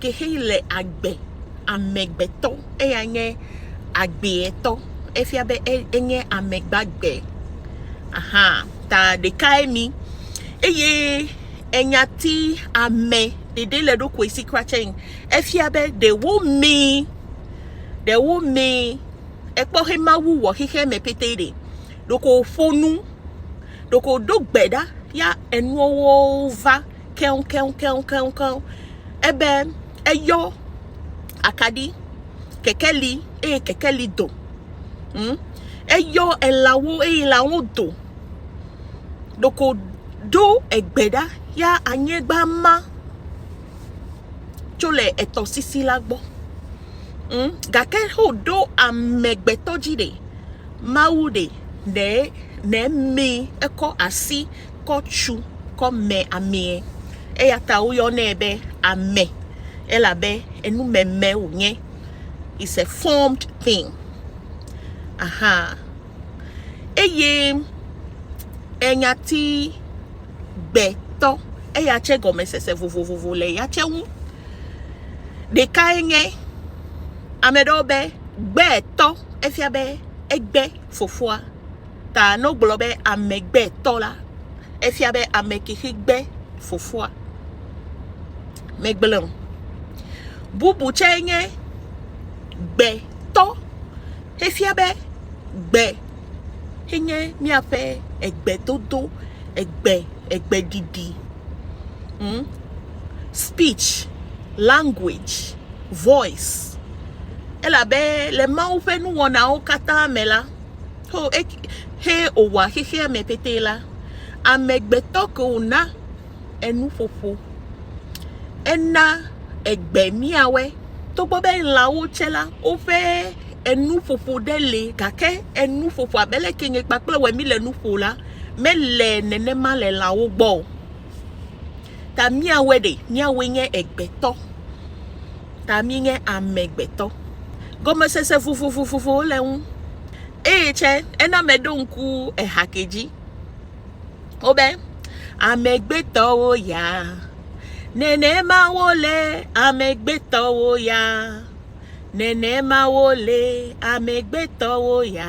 ke xe le agbe, amegbetɔ, eya nye agbeetɔ, efia be enye ame gbagbe, aha, ta ɖekae mi, eye enya ti ame ɖeɖe le ɖokui si kura tse, efia be ɖewo mee, ɖewo mee, ekpɔ xe Mawu wɔ xexea me pete ɖe, ɖeko wòƒo nu, ɖeko wòdo gbe ɖa ya enuɔwo va. keŋkeŋkeŋkeŋkeŋ ebe eyɔ akaɖi, kekeli eye kekeli do. Hm, eyɔ elãwo eye lãwo do. Ɖeko ɖo egbe ɖa ya anyigba ma tso le etɔsisi la gbɔ. Hm, gake xo ɖo amegbetɔ dzi ɖe, Mawu ɖe, ɖe, ɖe mi ekɔ asi. kɔ tsu kɔ me amee. Eya ta woyɔnɛ be ame elabe enumeme wònye. It's a formed thing. Aha. Eye enyati gbetɔ eya tse gɔmesese vovovovo le ya tse ŋu. Ɖekae nye ame ɖewo be gbetɔ efia be egbe fofoa. Ta ne wogblɔ be amegbetɔ la, efia be ame kexi gbe fofoa. Megblẽ o. Bubu tsɛ nye gbetɔ. Efia be gbe enye míaƒe egbedodo, egbe, egbeɖiɖi, hm, speech, language, voice. Elabe le Mawu ƒe nuwɔnawo katã me la, Ho eki he wòwɔa xexea me petee la, amegbetɔ ke wòna enuƒoƒo. Ena egbe míawɔe. Togbɔ be lãwo tsɛ la, woƒe enuƒoƒo ɖe li gake enuƒoƒoa be leke nye kpakple wò mi le nu ƒo la, mele nenema le lãwo gbɔ o. Ta míawoe ɖe? Míawoe nye egbetɔ. Ta míenye amegbetɔ. Gɔmesese vovovovowo le ŋu. Eye tsɛ, ena meɖo ŋku eha ke dzi. Wobe, amegbetɔwo ya. Nenema wole amegbetɔwo ya. Nenema wole amegbetɔwo ya.